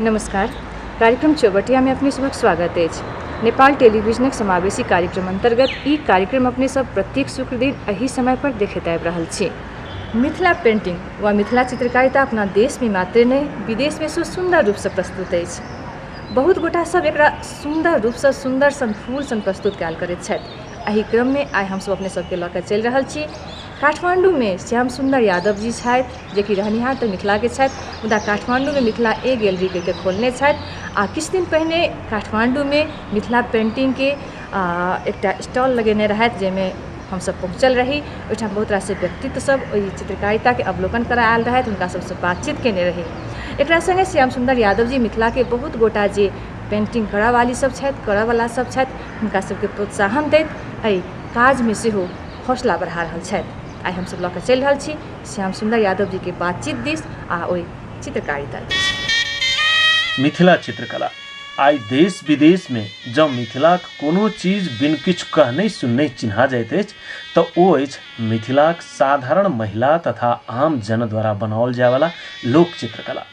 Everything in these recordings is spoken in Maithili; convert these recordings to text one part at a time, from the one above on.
नमस्कार कार्यक्रम चौबटिया में अपने सबक स्वागत अछि नेपाल टेलीविजनक समावेशी कार्यक्रम अंतर्गत ई कार्यक्रम अपने सब प्रत्येक शुक्र दिन एही समय पर देखैत आबि रहल छी मिथिला पेन्टिंग वा मिथिला चित्रकारिता अपना देशमे मात्रे नहि विदेशमे सेहो सुन्दर रूपसँ प्रस्तुत अछि बहुत गोटा सभ एकरा सुन्दर रूपसँ सुन्दर सन फूल सन प्रस्तुत कयल करैत छथि एहि क्रममे आइ हम सभ अपने सभकेँ लऽ कऽ चलि रहल छी काठमाण्डूमे श्याम सुन्दर यादव जी छथि जेकि रहनिहार तऽ मिथिलाके छथि मुदा काठमाण्डूमे मिथिला ए गैलरी कहि कऽ खोलने छथि आ किछु दिन पहिने काठमाण्डूमे मिथिला पेन्टिंगके एकटा स्टॉल लगेने रहथि जाहिमे हमसब पहुँचल रही ओहिठाम बहुत रास व्यक्तित्व सब ओहि चित्रकारिताके अवलोकन करऽ आयल रहथि हुनका सबसँ बातचीत कयने रही एकरा सङ्गे श्याम सुन्दर यादव जी मिथिलाके बहुत गोटा जे पेन्टिंग करऽ वाली सब छथि करऽ बला सब छथि हुनका सबके प्रोत्साहन दैत एहि काजमे सेहो हौसला बढ़ा रहल छथि आइ हमसब लऽ कऽ चलि रहल छी श्याम सुन्दर यादव जीके बातचीत दिस आ ओहि चित्रकारिता दिस मिथिला चित्रकला आइ देश विदेश में जँ मिथिलाक कोनो चीज बिन किछु कहने सुनने चिन्हा जाइत अछि तऽ ओ अछि मिथिलाक साधारण महिला तथा आम जन द्वारा बनाओल जायवला लोक चित्रकला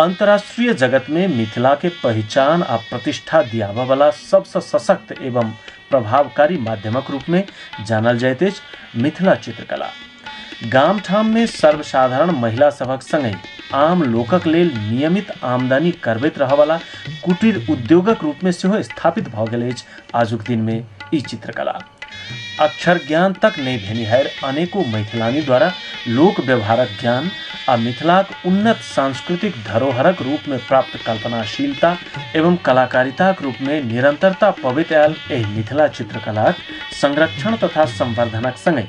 अंतर्राष्ट्रीय जगत में मिथिला के पहचान आ प्रतिष्ठा दियाबऽ वाला सबसँ सशक्त एवं प्रभावकारी माध्यमक रूप में जानल जाइत अछि मिथिला चित्रकला गामठाम मे सर्वसाधारण महिला सभक संगहि आम लोकक लेल नियमित आमदनी करबैत रहऽवला कुटीर उद्योगक रूप मे सेहो स्थापित भऽ गेल अछि आजुक दिन मे ई चित्रकला। अक्षर ज्ञान तक नहि भेनिहाएर अनेको मैथिलानी द्वारा लोक व्यवहारक ज्ञान आ मिथिलाक उन्नत सांस्कृतिक धरोहरक रूप मे प्राप्त कल्पनाशीलता एवं कलाकारिताक रूप मे निरंतरता पबैत आएल एहि मिथिला चित्रकलाक संरक्षण तथा संवर्धनक संगहि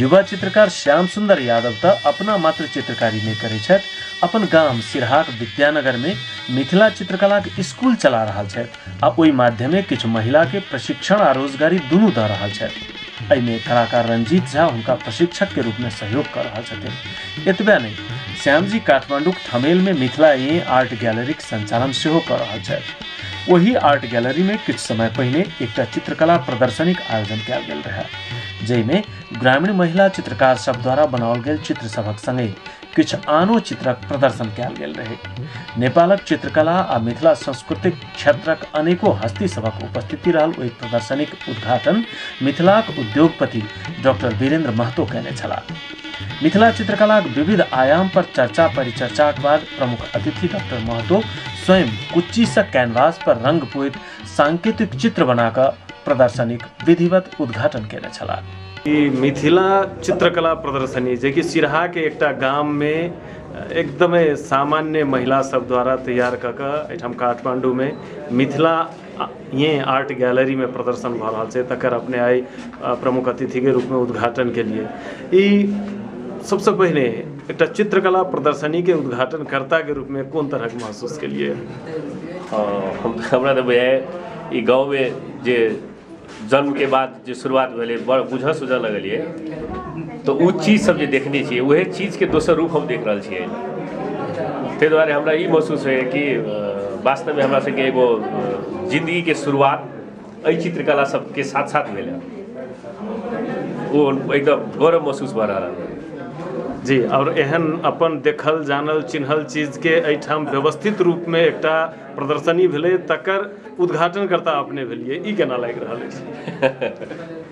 युवा चित्रकार श्याम सुंदर यादव त अपना मात्र चित्रकारी नहीं करे छत अपन गाम सिरहाक विद्यानगर में मिथिला चित्रकला के स्कूल चला रहा है आ ओहि माध्यमे कुछ महिला के प्रशिक्षण आ रोजगारी दुनू द रहा है एहिमे कलाकार रंजीत झा उनका प्रशिक्षक के रूप में सहयोग कर रहा छथिन एतबे नहीं श्याम जी काठमांडू थमेल में मिथिला ए आर्ट गैलरी के संचालन सेहो कर रहा है वही आर्ट गैलरी में कुछ समय पहले एक चित्रकला प्रदर्शनी के आयोजन किया गया रहा जाहिमे ग्रामीण महिला चित्रकार सब द्वारा बनाओल गेल चित्र सभक संगे किछु आनो चित्रक प्रदर्शन कयल गेल रहे नेपालक चित्रकला आ मिथिला सांस्कृतिक क्षेत्रक अनेको हस्ती सभक उपस्थिति रहल ओहि प्रदर्शनीक उद्घाटन मिथिलाक उद्योगपति डॉक्टर वीरेंद्र महतो कयने छलाह मिथिला चित्रकलाक विविध आयाम पर चर्चा परिचर्चाक बाद प्रमुख अतिथि डॉक्टर महतो स्वयं कुच्चीसँ कैनवास पर रंग पुत सांकेतिक चित्र बना कऽ प्रदर्शनीक विधिवत उद्घाटन केने छलाह ई मिथिला चित्रकला प्रदर्शनी जेकि सिरहाके एकटा गाममे एकदमै सामान्य महिला सब द्वारा तैयार कऽ कऽ एहिठाम काठमाण्डूमे मिथिला ये आर्ट गैलरीमे प्रदर्शन भऽ रहल छै तकर अपने आइ प्रमुख अतिथिके रूपमे उद्घाटन केलिए ई सबसँ पहिने एकटा चित्रकला प्रदर्शनीके उद्घाटनकर्ताके रूपमे कोन तरहके महसूस केलिए हमरा तऽ बुझाइए ई गाँवमे जे जन्मके बाद जे शुरुआत भेलै बड़ बुझऽ सुझऽ लगलिए तऽ ओ चीजसब जे देखने छिए वएह चीजके दोसर रूप हम देखि रहल छिए ताहि दुआरे हमरा ई महसूस होइए कि वास्तवमे हमरासबके एगो जिनगीके शुरुआत एहि चित्रकला सबके साथ साथ भेलै ओ एकदम गौरव महसूस भऽ रहल है जी आओर एहन अपन देखल जानल चिन्हल चीजके एहिठाम व्यवस्थित रूपमे एकटा प्रदर्शनी भेलै तकर उद्घाटनकर्ता अपने भेलियै ई केना लागि रहल अछि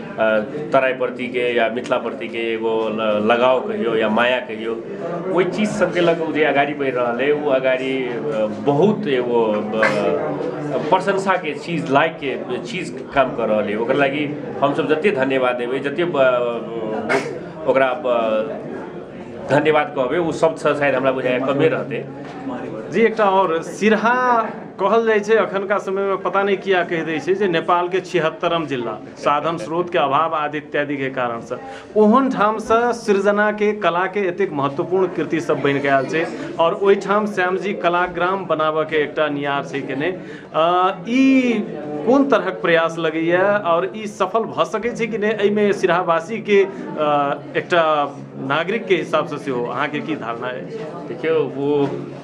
तराइप्रतिके या मिथिलाप्रतिके एगो लगाव कहियौ या माया कहियौ ओहि चीज सभके लऽ कऽ ओ जे अगाड़ी बढ़ि रहल अइ ओ अगाड़ी बहुत एगो प्रशंसाके चीज लायकके चीज काम कऽ रहल अइ ओकरा लागी हमसभ जतेक धन्यवाद देबै जतेक ओकरा धन्यवाद कहबै ओ शब्दसँ शायद हमरा बुझाइए कमे रहतै जी एकटा आओर सिरहा कहल जाइ छै एखुनका समयमे पता नहि किया कहि दै छै जे नेपालके छिहत्तरिम जिला साधन स्रोतके अभाव आदि इत्यादिके कारणसँ ओहन ठामसँ सृजनाके कलाके एतेक महत्वपूर्ण कृति सब बनि कऽ आयल छै आओर ओहिठाम श्यामजी कलाग्राम बनाबऽके एकटा नियार छै केने ई कोन तरहक प्रयास लगैया आओर ई सफल भऽ सकै छै कि नहि एहिमे सिरहावासीके एकटा नागरिकके हिसाबसँ सेहो अहाँके की धारणा अछि देखियौ ओ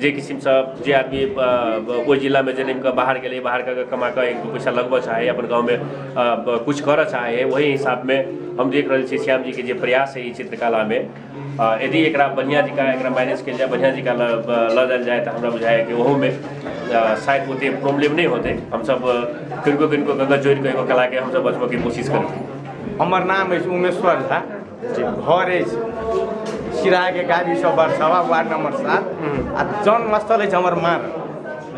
जे किसिमसँ जे आदमी ओहि जिलामे जनमि कऽ बाहर गेलै बाहर कऽ कऽ कमा कऽ एक दू पैसा लगबय चाहैए अपन गाममे किछु करय चाहैए ओही हिसाबमे हम देख रहल छियै श्यामजीके जे प्रयास हइ ई चित्रकलामे यदि एकरा बढ़िआँ जँका एकरा मैनेज कयल जाय बढ़िआँ जँका लऽ जायल जाय तऽ हमरा बुझाइए कि ओहूमे शायद ओतेक प्रॉब्लम नहि होतै हमसभ किनको किनको कऽ कऽ जोड़ि कऽ एगो कलाके हमसभ बचबयके कोशिश करबै हमर नाम अछि उमेश्वर झा जे घर अछि सिराहाके गाबी सब वर्षावा वार्ड नम्बर सात आ जन्मस्थल अछि हमर माँ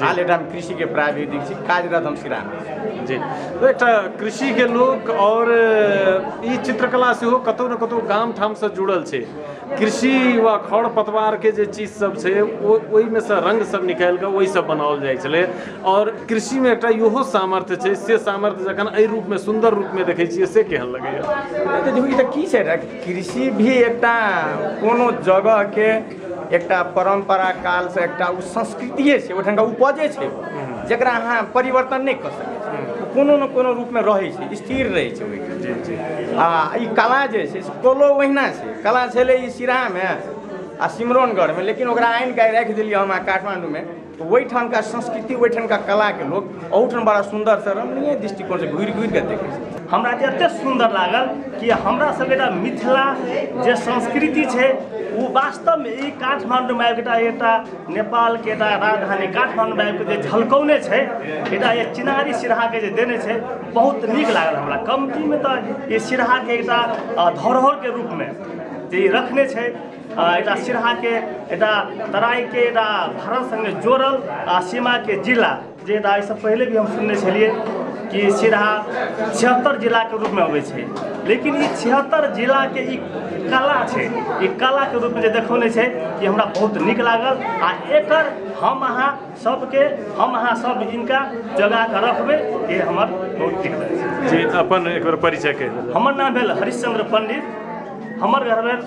हाल एकटा हम कृषिके प्राविधिक छी कार्यरत हम सिराहामे छी। जी तो एकटा कृषि के लोग और ई चित्रकला सेहो कतौ ने कतौ गाम ठाम से जुड़ल छै कृषि वा खर पतवार के जे चीज सब छै ओ ओहिमे से रंग सब निकालि कऽ ओहि सब बनाओल जाइ छलै आओर कृषि मे एकटा इहो सामर्थ्य छै से सामर्थ्य जखन एहि रूप मे सुन्दर रूप मे देखै छियै से केहन लगैया ई तऽ की छै ने कृषि भी एकटा कोनो जगह के एकटा परम्परा काल से एकटा ओ संस्कृतिये छै ओहिठाम के उपजे छै जकरा अहाँ परिवर्तन नहि कऽ सकै छी कोनो ने कोनो रूप मे रहै छै स्थिर रहै छै ओहि जी जी आ ई कला जे छै से कलो ओहिना छै कला छलै ई सिराहा मे आ सिमरौनगढ़ मे लेकिन ओकरा आनि कऽ राखि देलियै हम अहाँ काठमाण्डू मे ओहिठामका संस्कृति ओहिठामका कलाके लोक ओहूठाम बड़ा सुन्दरसँ रमणीय दृष्टिकोणसँ घुरि घुरिके देखै छै हमरा जे एतेक सुन्दर लागल कि हमरा सबके एकटा मिथिला जे संस्कृति छै ओ वास्तवमे ई काठमाण्डूमे आबि एकटा एकटा नेपालके एकटा राजधानी काठमाण्डूमे आबि जे झलकौने छै एकटा जे चिनारी सिरहाके जे देने छै बहुत नीक लागल हमरा कमतीमे तऽ ई सिरहाके एकटा धरोहरके रूपमे जे ई रखने छै एटा सिरहा के एटा तराई के एटा भारत संगे जोड़ल आ सीमा के जिला जे एटा एहिसँ पहिले भी हम सुनने छलियै कि सिरहा छिहत्तर जिलाके रूपमे अबै छै लेकिन ई छिहत्तर जिलाके ई कला छै ई कलाके रूपमे जे देखौने छै ई हमरा बहुत नीक लागल आ एकर हम अहाँ सबके हम अहाँ सब इनका जगा कऽ रखबै ई हमर बहुत नीक लागल जी अपन एक बेर परिचय कहि देबै हमर नाम भेल हरिश्चंद्र पंडित हमर घर भेल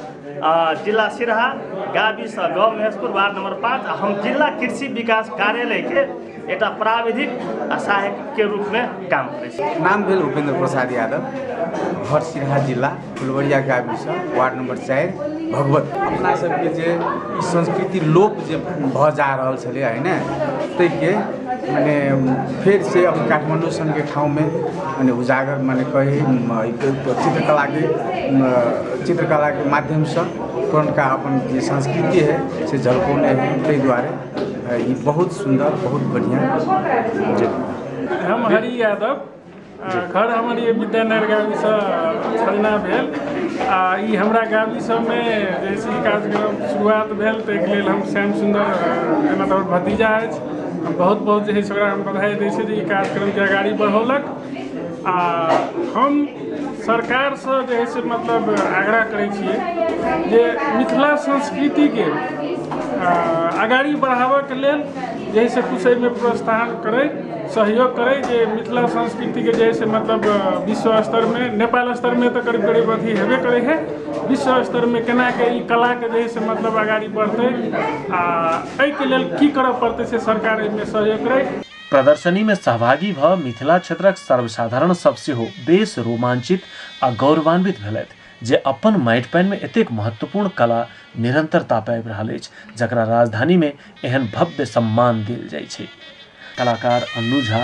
जिल्ला सिरहा गाविस गाउँ महेशपुर वार्ड नम्बर पाँच हम जिल्ला कृषि विकास कार्यालयके एउटा प्राविधिक सहायकके रूपमे काम करै छी नाम भेल उपेन्द्र प्रसाद यादव घर सिरहा जिल्ला फुलवरिया गाविस वार्ड नम्बर चारि भगवत अपना सबके जे ई संस्कृति लोप जे भऽ जा रहल छलै होइन ताहिके मने फेरसँ काठमाण्डू सनके ठाउँमे मने उजागर मने कही चित्रकलाके चित्रकलाके माध्यमसँ पुरनका अपन जे संस्कृति हइ से झलकौने हइ ताहि दुआरे ई बहुत सुन्दर बहुत बढ़िआँ जे हम हरि यादव आ घर हमर ये विद्यानगर गाँवसँ छलना भेल आ ई हमरा गाँव सबमे जैसे कार्यक्रम शुरुआत भेल ताहिके लेल हम श्याम सुन्दर जेना हमर भतीजा अछि बहुत बहुत जे है से ओकरा हम बधाई दै छी जे ई कार्यक्रमके अगाड़ी बढ़ौलक आ हम सरकारसँ जे है से मतलब आग्रह करै छियै जे मिथिला संस्कृतिके अगाड़ी बढ़ाबऽके लेल जे है से किछु एहिमे प्रोत्साहन करै सहयोग करै जे मिथिला संस्कृतिके जे है से मतलब विश्व स्तरमे नेपाल स्तरमे तऽ करीब करीब अथी हेबे करै है विश्व स्तरमे केनाके ई कलाके जे है से मतलब अगाड़ी बढ़तै आ एहि के लेल की करऽ पड़तै से सरकार एहि मे सहयोग करैत। प्रदर्शनी मे सहभागी भऽ मिथिला क्षेत्रक सर्वसाधारण सभ सेहो बेस रोमांचित आ गौरवान्वित भेलथि जे अपन माटि-पानि मे एतेक महत्वपूर्ण कला निरन्तरता पाबि रहल अछि जकरा राजधानी मे एहन भव्य सम्मान देल जाइछै। कलाकार अन्नू झा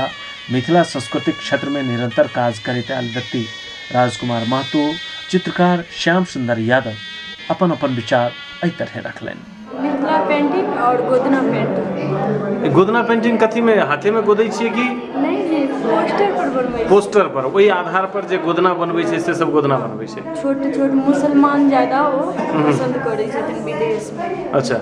मिथिला संस्कृति क्षेत्र में निरंतर काज करते आयल व्यक्ति राजकुमार महतो चित्रकार श्याम सुंदर यादव अपन अपन विचार एहि तरह रखलनि मिथिला पेंटिंग और गोदना पेंटिंग गोदना पेंटिंग कथी में हाथे में गोदै छियै कि नहीं नहीं पोस्टर पर बनबै पोस्टर पर ओहि आधार पर जे गोदना बनबै छै से सब गोदना बनबै छै छोट छोट मुसलमान ज्यादा ओ पसंद करै छथिन विदेश में अच्छा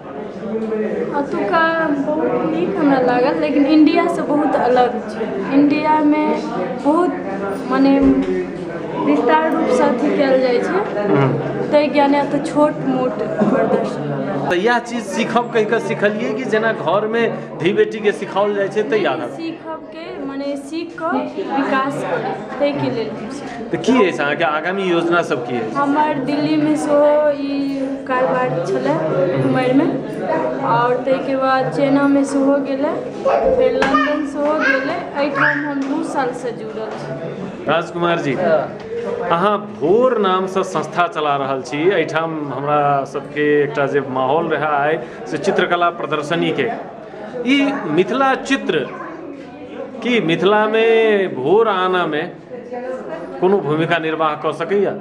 अतुका बहुत नीक हमरा लागल लेकिन इण्डिया से बहुत अलग छै इण्डिया मे बहुत मने विस्तार रूप सऽ अथी कयल जाइ छै तै ज्ञाने अतऽ छोट मोट तऽ इएह चीज सीखब कहि कऽ सिखलियै कि जेना घर मे धी बेटी के सिखाओल जाइ छै तैयार मने सीख कऽ विकास करी ताहिके लेल हम सीखी तऽ की अछि अहाँके आगामी योजना सब की अछि हमर दिल्लीमे सेहो ई कारबार छलै उमरमे आओर ताहिके बाद चाइनामे सेहो गेलै फेर लन्दन सेहो गेलै एहिठाम हम दू सालसँ जुड़ल छी राजकुमार जी अहाँ भोर नामसँ संस्था चला रहल छी एहिठाम हमरा सबके एकटा जे माहौल रहै आइ से चित्रकला प्रदर्शनीके ई मिथिला चित्र की मिथिलामे भोर आनामे कोनो भूमिका निर्वाह कऽ सकैया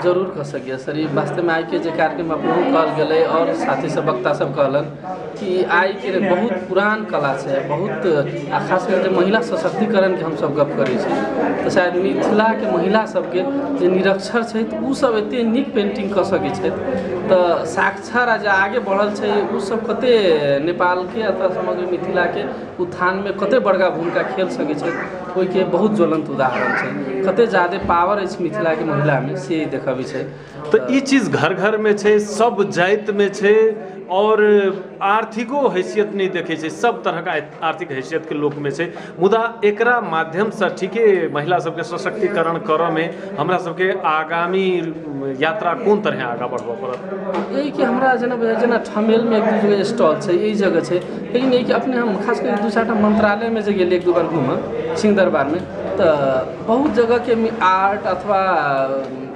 जरूर कऽ सकैया सर ई वास्तवमे आइके जे कार्यक्रम अपनेहो कहल गेलै आओर साथी सब वक्ता सब कहलन कि आइके बहुत पुरान कला छै बहुत आ खास करके महिला सशक्तिकरणके हमसब गप करै छी तऽ शायद मिथिलाके महिला सबके जे निरक्षर छथि ओ सब एते नीक पेन्टिङ्ग कऽ सकै छथि तऽ साक्षात शिक्षा राज्य आगे बढ़ल छै ओ सब कते नेपालके अथवा समग्र मिथिलाके उत्थानमे कते बड़का भूमिका खेल सकैत छै ओहिके बहुत ज्वलन्त उदाहरण छै कते जादे पावर अछि मिथिलाके महिलामे से ई देखबैत छै तऽ ई चीज घर घरमे छै सब जातिमे छै आओर आर्थिको हैसियत नहि देखैत छै सब तरहके आर्थिक हैसियतके लोकमे छै मुदा एकरा माध्यमसँ ठीके महिला सबके सशक्तिकरण करऽमे हमरा सबके आगामी यात्रा कोन तरहे आगाँ बढ़बऽ पड़त ई कि हमरा जेना बुझाइ छै जेना ठमेलमे एक दू जगह स्टॉल छै ई जगह छै लेकिन ई कि अपने हम खास कऽ दू चारि टा मन्त्रालयमे जे गेलियै एक दू बार घूमऽ सिंह दरबारमे तऽ बहुत जगहके आर्ट अथवा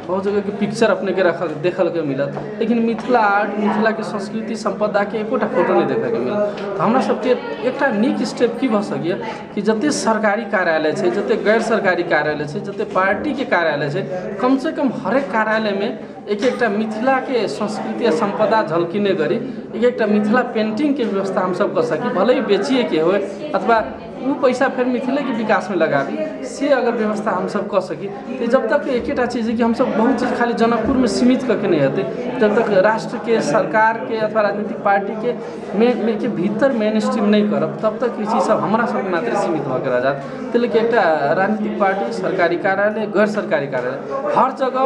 बहुत जगहके पिक्चर अपनेके रखल देखलके मिलत लेकिन मिथिला आर्ट मिथिलाके संस्कृति सम्पदाके एकोटा फोटो नहि देखैके मिलत तऽ हमरा सभके एकटा नीक स्टेप की भऽ सकैया कि जते सरकारी कार्यालय छै जते गैर सरकारी कार्यालय छै जते पार्टीके कार्यालय छै कम से कम हरेक कार्यालयमे एक एकटा मिथिलाके संस्कृति आ सम्पदा झलकिने गरी एक एकटा मिथिला पेन्टिङ्गके व्यवस्था हम सभ कऽ सकी भले ही बेचियेके होइ अथवा ओ पैसा फेर मिथिलेके विकासमे लगाबी से अगर व्यवस्था हमसभ कऽ सकी तऽ जब तक एकेटा चीज हइ कि हमसभ बहुत चीज खाली जनकपुरमे सीमित कऽ के नहि हेतै जब तक राष्ट्रके सरकारके अथवा राजनीतिक पार्टीके मे मे के भीतर मेन स्ट्रीम नहि करब तब तक ई चीजसभ हमरासभके मात्रे सीमित भऽ के रहि जायत ताहि लऽ के एकटा राजनीतिक पार्टी सरकारी कार्यालय गैर सरकारी कार्यालय हर जगह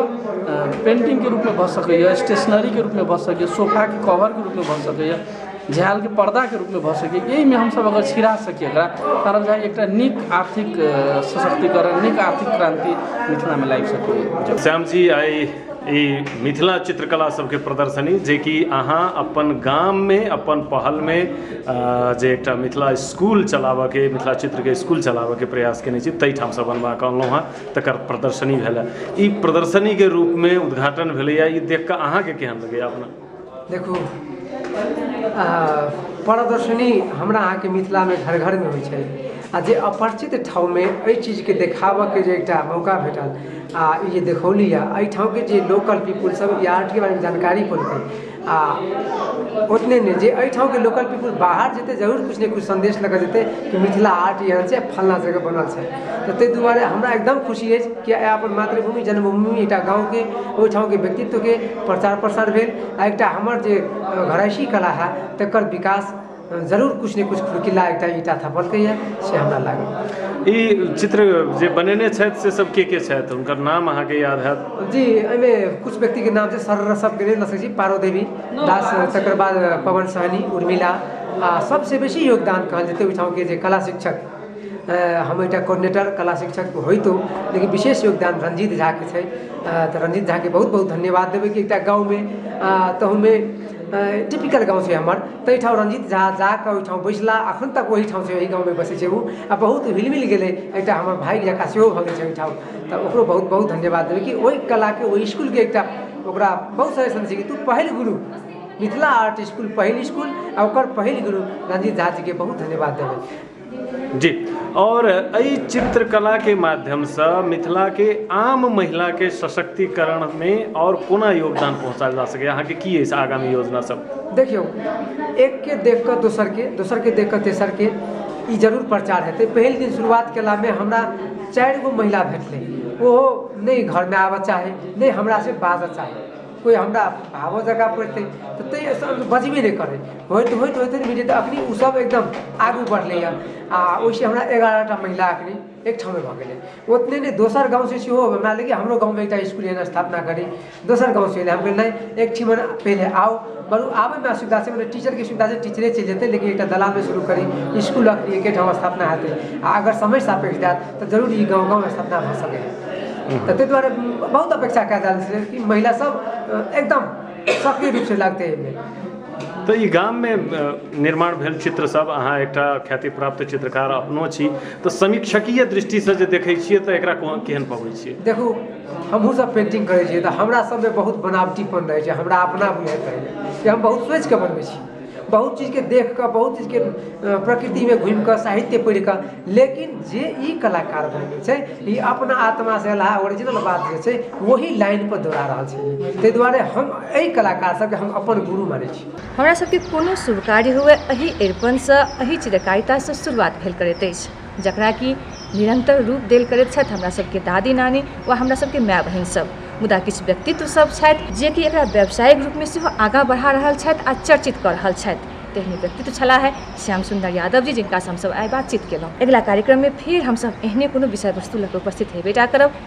पेंटिंगके रूपमे भऽ सकैए स्टेशनरीके रूपमे भऽ सकैए सोफाके कवरके रूपमे भऽ सकैए झालके पर्दाके रूपमे भऽ सकैए एहिमे हमसब अगर छिड़ा सकी एकरा तहन बुझाइए एकटा नीक आर्थिक सशक्तिकरण नीक आर्थिक क्रान्ति मिथिलामे लागि सकैए श्याम जी आइ ई मिथिला चित्रकला सबके प्रदर्शनी जेकि अहाँ अपन गाममे अपन पहलमे जे एकटा मिथिला इसकुल चलाबऽके मिथिला चित्रके इसकुल चलाबऽके प्रयास कयने छी ताहिठामसँ बनबाकऽ अनलहुँ हँ तकर प्रदर्शनी भेल हँ ई प्रदर्शनीके रूपमे उद्घाटन भेलैए ई देखिकऽ अहाँके केहन लगैए अपना देखू प्रदर्शनी हमरा अहाँके मिथिलामे घर घरमे होइ छै आओर जे अपरिचित ठाँवमे एहि चीजके देखाबऽके जे एकटा मौका भेटल आओर ई जे देखौली हँ एहि ठाँवके जे लोकल पीपल सब ई आर्टके बारेमे जानकारी पौलकै आओर ओतने नहि जे एहि ठाँवके लोकल पीपल बाहर जेतै जरूर किछु ने किछु सन्देश लऽ कऽ जेतै कि मिथिला आर्ट एहन छै फल्लाँ जगह बनल छै तऽ ताहि दुआरे हमरा एकदम खुशी अछि किए आइ अपन मातृभूमि जन्मभूमि एकटा गाँवके ओहिठामके व्यक्तित्वके प्रचार प्रसार भेल आ एकटा हमर जे घरैसी कला हए तकर विकास जरूर किछु ने किछु खुरकिला एकटा ईंटा थपलकैए से हमरा लागैए ई चित्र जे बनेने छथि से सब के के छथि हुनकर नाम अहाँके याद हएत जी एहिमे किछु व्यक्तिके नाम छै सर सबके नहि लऽ सकैत छी पारो देवी दास तकर बाद पवन सहनी उर्मिला आ सबसे बेसी योगदान कहल जेतै ओहिठामके जे कला शिक्षक हम एकटा कोर्डिनेटर कला शिक्षक होइतो लेकिन विशेष योगदान रंजीत झा के छै तऽ रंजीत झा के बहुत बहुत धन्यवाद देबै कि एकटा गाँव मे तहू मे टिपिकल गाँव छै हमर ताहि ठाम रंजीत झा जाके ओहिठाम बैसला अखन तक ओहि ठाम छै ओहि गाँव मे बसै छै ओ आ बहुत हिल मिल गेलै एकटा हमर भाय जेकाँ सेहो भऽ गेल छै ओहिठाम तऽ ओकरो बहुत बहुत धन्यवाद देबै कि ओहि कला के ओहि इसकुल के एकटा ओकरा बहुत सारा तू पहल गुरु मिथिला आर्ट स्कूल पहिल स्कूल आ ओकर पहिल गुरु रंजीत झा जी के बहुत धन्यवाद देबै जी और एहि चित्रकला के माध्यम से मिथिला के आम महिला के सशक्तिकरण में और कोना योगदान पहुंचाएल जा सके अहाँ के की अछि आगामी योजना सब देखियौ एक के देख कऽ दोसर के दोसर के देख कऽ तेसर के ई जरूर प्रचार हेतै पहिल दिन शुरुआत केला में हमरा चारि गो महिला भेटलै ओहो नहि घर में आबऽ चाहे नहि हमरा से बाजऽ चाहे कोइ हमरा भावो जगा पड़तै तऽ तैयो सर बजबे नहि करै होइत होइत होइत होइत जे अखनी ओ सब एकदम आगू बढ़लै हँ आ ओहिसे हमरा एगारह टा महिला अखनी एक ठाँवमे भऽ गेलै ओतने नहि दोसर गाँव से सेहो हमरा लगैए हमरो गाँवमे एकटा इसकुल एहन स्थापना करी दोसर गाँव से हम कहलियै नहि एक ठाम पहिले आउ बरु आबैमे असुविधा छै मने टीचरके सुविधा छै टीचरे चलि जेतै लेकिन एकटा दलानमे शुरू करी इसकुल अखनी एके ठाम स्थापना हेतै आ अगर समय सापेक्ष जायत तऽ जरूर ई गाँव गाँव स्थापना भऽ सकैए तऽ ताहि दुआरे बहुत अपेक्षा कए रहल छै कि महिला सब एकदम सक्रिय रूप से लागतै एहिमे तऽ ई गाममे निर्माण भेल चित्र सब अहाँ एकटा ख्याति प्राप्त चित्रकार अपनो छी तऽ समीक्षकीय दृष्टिसँ जे देखै छियै तऽ एकरा केहन पबै छियै देखू हमहूँ सब पेंटिंग करै छियै तऽ हमरा सबमे बहुत बनावटीपन रहै छै हमरा अपना बुझाइत रहैए कि हम बहुत सोचिके बनबै छी बहुत चीजके देख कऽ बहुत चीजके प्रकृतिमे घुमि कऽ साहित्य पढ़ि कऽ लेकिन जे ई कलाकार बनै छै ई अपना आत्मा से अलावा ओरिजिनल बात जे छै ओहि लाइन पर दौड़ा रहल छै ताहि दुआरे हम एहि कलाकार सबके हम अपन गुरु मानै छी हमरा सबके कोनो शुभ कार्य हुए एहि अरिपनसँ एहि चित्रकारितासँ शुरुआत भेल करैत अछि जकरा कि निरन्तर रूप देल करैत छथि हमरा सभके दादी नानी वा हमरा सभके माय बहिन सभ मुदा किछु व्यक्तित्व सभ छथि जे कि एकरा व्यावसायिक रूपमे सेहो आगाँ बढ़ा रहल छथि आ चर्चित कऽ रहल छथि तेहने व्यक्तित्व छलाह हे श्याम सुन्दर यादव जी जिनकासँ हमसभ आइ बातचीत केलहुँ अगिला कार्यक्रममे फेर हमसभ एहने कोनो विषय वस्तु लऽ कऽ उपस्थित हेबे टा करब